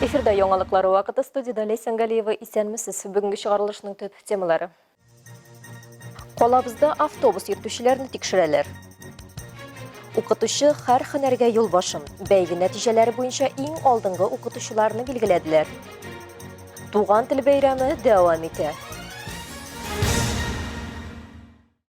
Эфирда яңалыклар вакыты, студиядә Ләйсән Галиева. Исәнмесез! Бүгенге чыгарылышның төп темалары. Калабызда автобус йөртүчеләрне тикшерәләр. Укытучы хәр хәнәргә юлбашын, бәйге нәтиҗәләре буенча иң алдынгы укытучыларны билгеләделәр. Туган тел бәйрәме дәвам итә.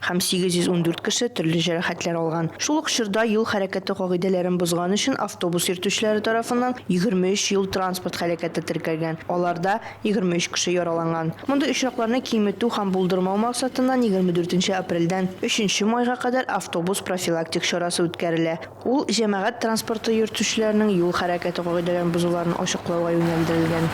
һәм 814 кеше төрле җәрәхәтләр алган. Шул ук чорда юл хәрәкәте кагыйдәләрен бозган өчен автобус йөртүчеләре тарафыннан 23 юл-транспорт һәлакәте теркәлгән, аларда 23 кеше яраланган. Мондый очракларны киметү һәм булдырмау максатыннан 24 апрельдән 3 майга кадәр автобус профилактик чарасы үткәрелә, ул җәмәгать транспорты йөртүчеләренең юл хәрәкәте кагыйдәләрен бозуларын ачыклауга юнәлдерелгән.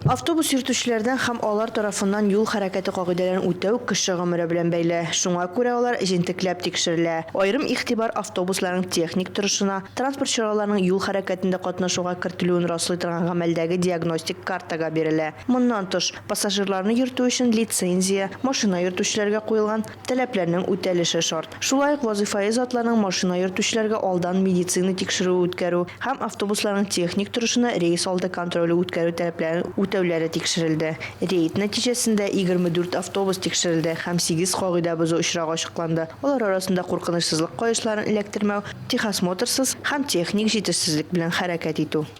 Автобус йөртүчеләрдән һәм алар тарафыннан юл хәрәкәте кагыйдәләрен үтәү кеше гомере белән бәйле, шуңа күрә алар җентекләп тикшерелә. Аерым игътибар автобусларның техник торышына, транспорт чараларының юл хәрәкәтендә катнашуга кертелүен раслый торган гамәлдәге диагностик картага бирелә. Моннан тыш, пассажирларны йөртү өчен лицензия, машина йөртүчеләргә куелган, таләпләрнең үтәлеше шарт. Шулай ук вазыйфаи затларның машина йөртүчеләргә алдан медицина тикшерүе үткәрү һәм автобусларның техник торышына рейс алды контроле үткәрү таләпләрен үтәүләре тикшерелде. Рейд нәтиҗәсендә егерме дүрт автобус тикшерелде һәм сигез кагыйдә бозу очрагы ачыкланды, алар арасында куркынычсызлык каешларын эләктермәү, техосмотрсыз һәм техник җитешсезлек белән хәрәкәт итү.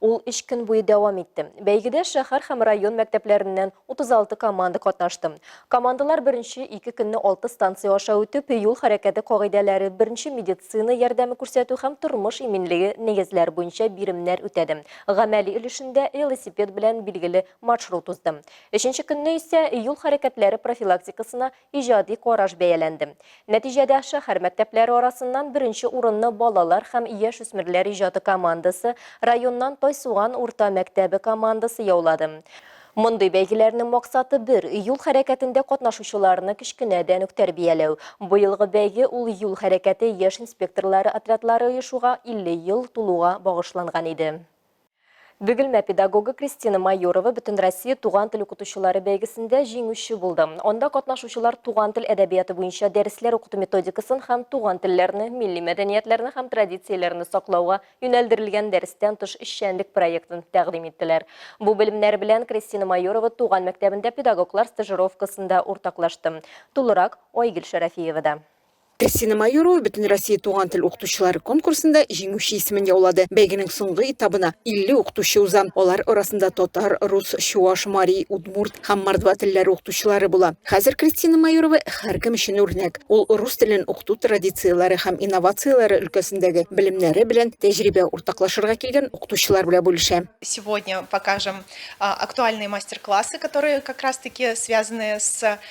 Ул өч көн буе дәвам итте. Бәйгедә шәһәр һәм район мәктәпләреннән 36 команда катнашты. Командалар беренче ике көнне алты станция аша үтеп, юл хәрәкәте кагыйдәләре, беренче медицина ярдәме күрсәтү һәм тормыш иминлеге нигезләре буенча биремнәр үтәде. Гамәли өлешендә велосипед белән билгеле маршрут узды. Өченче көнне исә юл хәрәкәтләре профилактикасына иҗади караш бәяләнде. Нәтиҗәдә, шәһәр мәктәпләре арасыннан беренче урынны балалар һәм яшүсмерләр иҗаты командасы, районнан Тайсуган урта мәктәбе командасы яулады. Мондый бәйгеләрнең максаты бер, юл хәрәкәтендә катнашучыларны кечкенәдән үк тәрбияләү. Быелгы бәйге ул юл хәрәкәте яшь инспекторлары отрядлары оешуга 50 ел тулуга багышланган иде. Бөгелмә педагогы Кристина Майорова Бөтенроссия туган тел укытучылары бәйгесендә җиңүче булды. Анда катнашучылар туган тел әдәбияты буенча дәресләр укыту методикасын һәм туган телләрне, милли мәдәниятләрне һәм традицияләрне саклауга юнәлдерелгән дәрестән тыш эшчәнлек проектын тәкъдим иттеләр. Бу белемнәр белән Кристина Майорова туган мәктәбендә педагоглар стажировкасында уртаклашты. Тулырак Айгөл Шәрәфиевада. Кристина Майорова Бөтенроссия туган тел укытучылары конкурсында җиңүче исемен яулады. Бәйгенең соңгы этабына 50 укытучы уза. Алар арасында татар, рус, чуаш, мари, удмурт һәм мордва телләре укытучылары була. Хәзер Кристина Майорова һәркем өчен үрнәк. Ул рус телен укыту традицияләре һәм инновацияләре өлкәсендәге белемнәре белән тәҗрибә уртаклашырга килгән укытучылар белән бүлешә. Сегодня покажем актуальные мастер-классы, которые как раз таки связаны с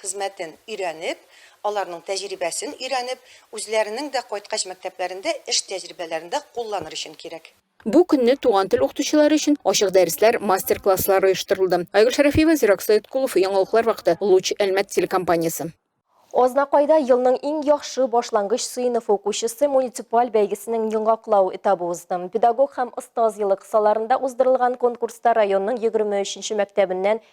хезмәтен өйрәнеп, аларның тәҗрибәсен өйрәнеп, үзләренең дә кайткач мәктәпләрендә эш тәҗрибәләрендә кулланыр өчен кирәк. Бу көнне туган тел укытучылары өчен ачык дәресләр, мастер-класслар оештырылды. Айгөл Шәрәфиева, Зирак Сәеткулов, Яңалыклар вакыты, Луч, Әлмәт телекомпаниясе. Азнакайда елның иң яхшы башлангыч сыйныфы укучысы муниципаль бәйгесенең йоңаклау этабы узды. Педагог һәм остаз елы кысаларында уздырылган конкурста районның егерме өченче мәктәбеннән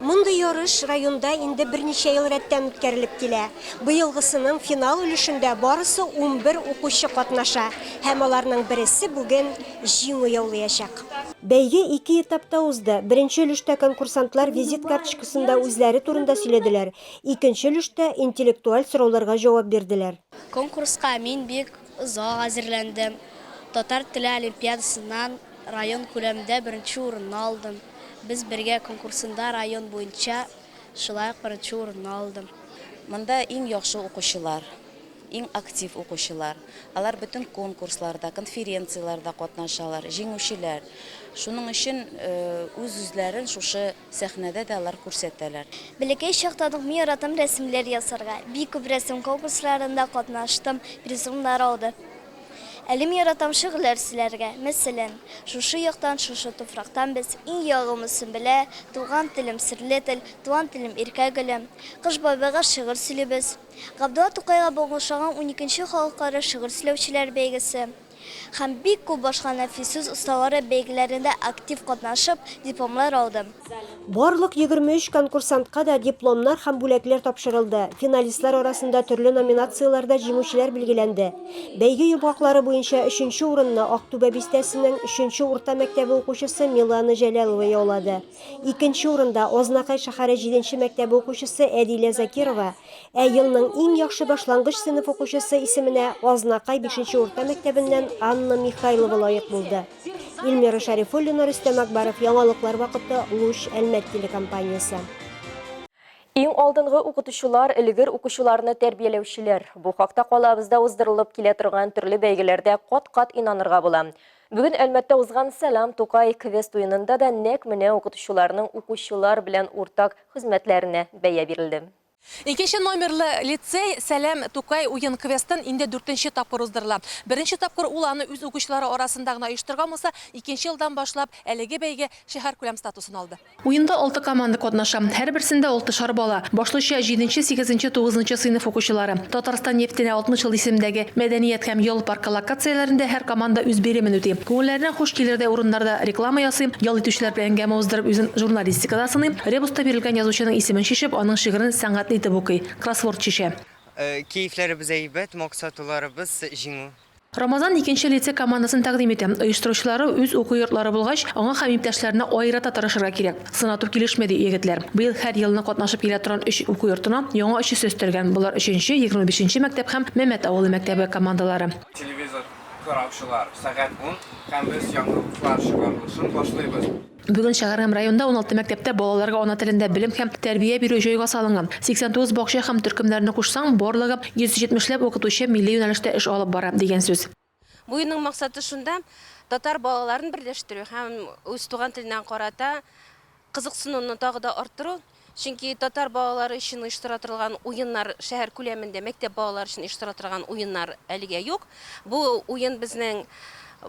Мондый ярыш районда инде берничә ел рәттән үткәрелеп килә. Быелгысының финал өлешендә барысы унбер укучы катнаша һәм аларның бересе бүген җиңү яулыячак. Бәйге ике этапта узды. Беренче өлештә конкурсантлар визит карточкасында үзләре турында сөйләделәр, икенче өлештә интеллектуаль сорауларга җавап бирделәр. Конкурска мин бик Озак әзерләндем. Татар теле олимпиадасыннан район күләмендә беренче урынны алдым. Без бергә конкурсында район буенча шулай ук беренче урынны алдым. Монда иң яхшы укучылар, иң актив укучылар. Алар бөтен конкурсларда, конференцияләрдә катнашалар, җиңүчеләр. Шуның өчен үз-үзләрен шушы. Сәхнәдә дә алар күрсәтәләр. Бәләкәй чактан ук мин яратам рәсемләр ясарга. Бик күп рәсем конкурсларында катнаштым, призлар алдым. Әле мин яратам шигырьләр сөйләргә. Мәсәлән, Шушы яктан, шушы туфрактан без, Иң ягымлы Сөмбелә, Туган телем, серле тел, Туган телем, иркә гөлем. Кыш бабайга шигырь сөйлибез. Габдулла Тукайга багышланган уникенче Халыкара шигырь сөйләүчеләр бәйгесе. һәм бик күп башка нәфис сүз осталары бәйгеләрендә актив катнашып, дипломлар алды. Барлык 23 конкурсантка да дипломнар һәм бүләкләр тапшырылды, финалистлар арасында төрле номинацияләрдә җиңүчеләр билгеләнде. Бәйге йомгаклары буенча өченче урынны Актүбә бистәсенең өченче урта мәктәбе укучысы Милана Җәләлова яулады. Икенче урында Азнакай шәһәре җиденче мәктәбе укучысы Әдилә Закирова, Ә елның иң яхшы башлангыч сыйныф укучысы исеменә Азнакай бишенче урта мәктәбеннән Анна Михайлова лаек булды. Ильмира Шәрифуллина, Рөстәм Акбаров, Яңалыклар вакыты, Луч, Әлмәт телекомпаниясе. Иң алдынгы укытучылар, элегер укучыларны тәрбияләүчеләр. Бу хакта калабызда уздырылып килә торган төрле бәйгеләрдә кат-кат инанырга була. Бүген Әлмәттә узган Сәлам, Тукай! квест уенында да нәкъ менә укытучыларның укучылар белән уртак хезмәтләренә бәя бирелде. Икенче номерлы лицей Сәлам, Тукай! уен-квестын инде дүртенче тапкыр уздырыла. Беренче тапкыр ул аны үз укучылары арасында гына оештырган булса, икенче елдан башлап әлеге бәйге шәһәркүләм статусын алды. Уенда алты команда катнаша, һәрберсендә алтышар бала, башлыча, җиденче, сигезенче, тугызынчы сыйныф укучылары. Татарстан нефтенә 60 ел исемендәге Мәдәният һәм ял паркы локацияләрендә һәр команда үз биремен үти. Күңелләренә хуш килердәй урыннарда реклама ясый, ял итүчеләр белән әңгәмә уздырып үзен журналист, Практикада сыный, ребуста бирелгән язучының исемен чишеп, аның шигырен сәнгатьле итеп укый, кроссворд чишә. Кәефләребез әйбәт, максатуларыбыз, җиңү. Рамазан икенче лицей командасын тәкъдим итә. Оештыручылары үз уку йортлары булгач, аңа һәм иптәшләренә аерата тырышырга кирәк. Сынату килешми, ди егетләр. Быел һәр елны катнашып килә торган өч уку йортына яңа өчесе өстәлгән, болар өченче, егерме бишенче мәктәп һәм Мәмәт авылы мәктәбе командалары. Телевизор караучылар, сәгать ун, һәм без яңалыклар чыгарылышын башлыйбыз. Бүген шәһәр һәм районда уналты мәктәптә балаларга ана телендә белем һәм тәрбия бирү җайга салынган. 89 бакча һәм төркемнәрне кушсаң, барлыгы 170 ләп укытучы милли юнәлештә эш алып бара, дигән сүз. Бу юлның максаты шунда, татар балаларын берләштерү һәм үз туган теленә карата кызыксынуны тагы да арттыру. Чөнки татар балалары өчен оештыра торылган уеннар, шәһәр күләмендә мәктәп балалары өчен оештыра торган уеннар әлегә юк. Бу уен безнең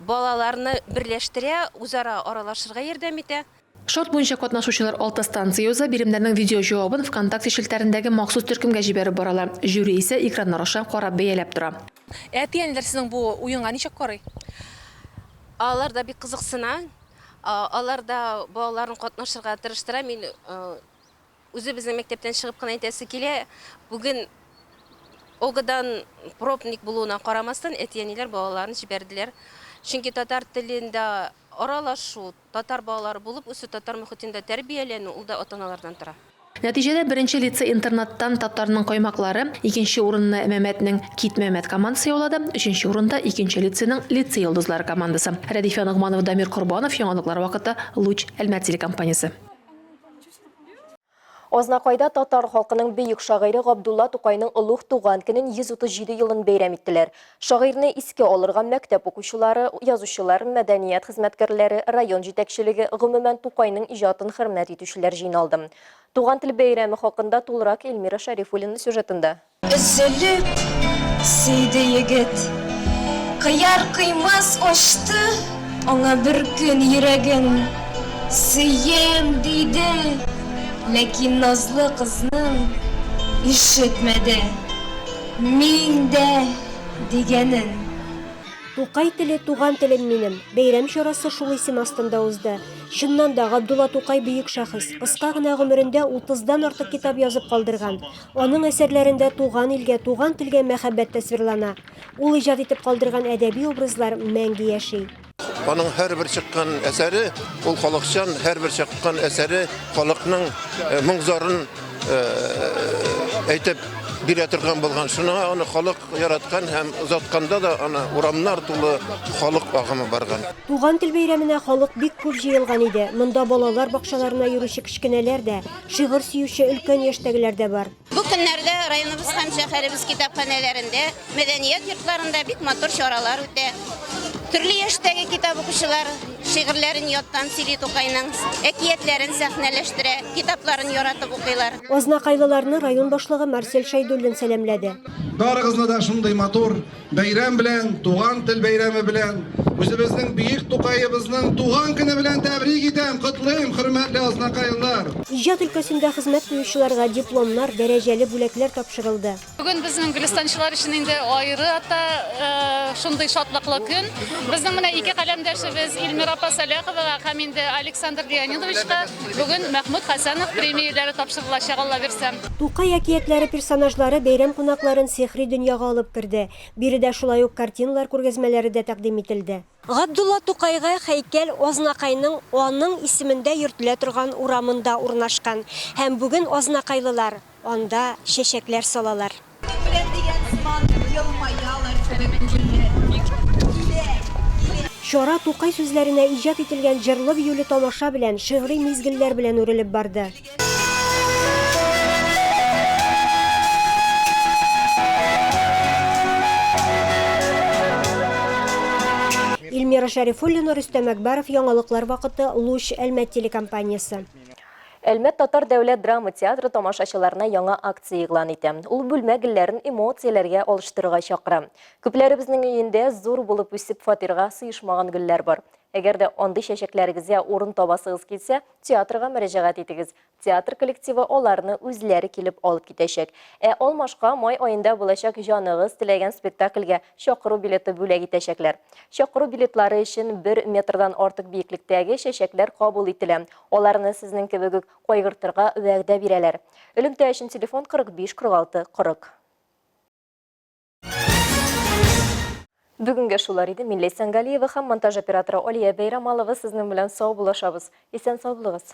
балаларны берләштерә, үзара аралашырга ярдәм итә. Шарт буенча катнашучылар алты станция уза, биремнәрнең видеоҗавабын ВКонтакте челтәрендәге махсус төркемгә җибәреп баралар, жюри исә экраннар аша карап бәяләп тора. Әти-әниләр сезнең бу уенга ничек карый? Алар да бик кызыксына. А, Алар да балаларын катнашырга тырыштыра. Мин а, үзе безнең мәктәптән чыгып кына әйтәсе килә. Бүген ОГАдан пробник булуына карамастан, әти-әниләр балаларын җибәрделәр. Чөнки татар телендә аралашу, татар балалары булып үсү, татар мөхитендә тәрбияләнү ул да ата-аналардан тора. Нәтиҗәдә беренче лицей-интернаттан Татарның каймаклары, икенче урынны Мәмәтнең Кит, Мәмәт командасы яулады, өченче урында, икенче лицейның Лицей йолдызлары командасы. Рәдифә Ногманова, Дамир Корбанов, Яңалыклар вакыты, Луч, Әлмәт телекомпаниясе. Азнакайда татар халкының бөек шагыйре Габдулла Тукайның олуг туган көнен 137 елын бәйрәм иттеләр. Шагыйрьне искә алырга мәктәп укучылары, язучылар, мәдәният хезмәткәрләре, район җитәкчелеге, гомумән, Тукайның иҗатын хөрмәт итүчеләр җыйналды. Туган тел бәйрәме хакында тулырак Эльмира Шәрифуллина сюжетында. Өзелеп сөйде егет. Кыяр-кыймас ачты аңа бер көн йөрәген. Сөям, диде, ләкин назлы кызның ишетмәде. Мин дә дигәнен. Тукай теле, туган телем минем. Бәйрәм чарасы шул исем астында узды. Чыннан да, Габдулла Тукай бөек шәхес. Кыска гына гомерендә утыздан артык китап язып калдырган. Аның әсәрләрендә туган илгә, туган телгә мәхәббәт тасвирлана. Ул иҗат итеп калдырган әдәби образлар мәңге яши. Аның һәрбер чыккан әсәре, ул халыкчан, һәрбер чыккан әсәре халыкның э, моң-зарын э, әйтеп бирә торган булган. Шуңа аны халык яраткан һәм озатканда да аны урамнар тулы халык агымы барган. Туган тел бәйрәменә халык бик күп җыелган иде. Монда балалар бакчаларына йөрүче кечкенәләр дә, шигырь сөюче өлкән яшьтәгеләр дә бар. Бу көннәрдә районыбыз һәм шәһәребез китапханәләрендә, мәдәният йортларында бик матур чаралар үтә. Төрле яшьтәге китап укучылар шигырьләрен яттан сөйли Тукайның, әкиятләрен сәхнәләштерә, китапларын яратып укыйлар. Азнакайлыларны район башлыгы Марсель Шәйдуллин сәламләде. Барыгызны да шундый матур, Бәйрәм белән, Туган тел бәйрәме белән, үзебезнең бөек Тукаебызның туган көне белән тәбрик итәм, котлыйм, хөрмәтле азнакайлар! Иҗат өлкәсендә хезмәт куючыларга дипломнар, дәрәҗәле бүләкләр тапшырылды. Бүген безнең гөлстанчылар өчен инде аерата шундый шатлыклы көн. Безнең менә ике каләмдәшебез Ильмира апа Сәлаховага һәм инде Александр Леонидовичка бүген Мәхмүт Хәсәнов премияләре тапшырылачак, Аллабирса. Тукай әкиятләре персонажлары бәйрәм кунакларын сихри дөньяга алып керде. Биредә шулай ук картиналар күргәзмәләре дә тәкъдим ителде. Габдулла Тукайга хәйкәл Азнакайның аның исемендә йөртелә торган урамында урнашкан һәм бүген азнакайлылар анда чәчәкләр салалар. Беләм дигән сыман елмаялар кебек күңелле. Килә, килә. Чара Тукай сүзләренә иҗат ителгән җырлы-биюле тамаша белән, шигъри мизгелләр белән үрелеп барды. Ильмира Шәрифуллина, Рөстәм Әкбәров, Яңалыклар вакыты, Луч, Әлмәт телекомпаниясе. Әлмәт татар дәүләт драма театры тамашачыларына яңа акция игълан итә. Ул бүлмә гөлләрен эмоцияләргә алыштырырга чакыра. Күпләребезнең өендә зур булып үсеп фатирга сыешмаган гөлләр бар. Әгәр дә андый чәчәкләрегезгә урын табасыгыз килсә, театрга мөрәҗәгать итегез. Театр коллективы аларны үзләре килеп алып китәчәк. Ә алмашка май аенда булачак җаныгыз теләгән спектакльгә чакыру билеты бүләк итәчәкләр. Чакыру билетлары өчен бер метрдан артык биеклектәге чәчәкләр кабул ителә. Аларны сезнең кебек үк кайгыртырга вәгъдә бирәләр. Элемтә өчен телефон 45 46 40. Бүгенге шулар иде Милли Сәнгалиева һәм монтаж операторы Алия Бәйрамалова сезнең белән сау булашабыз. Исән сау булыгыз.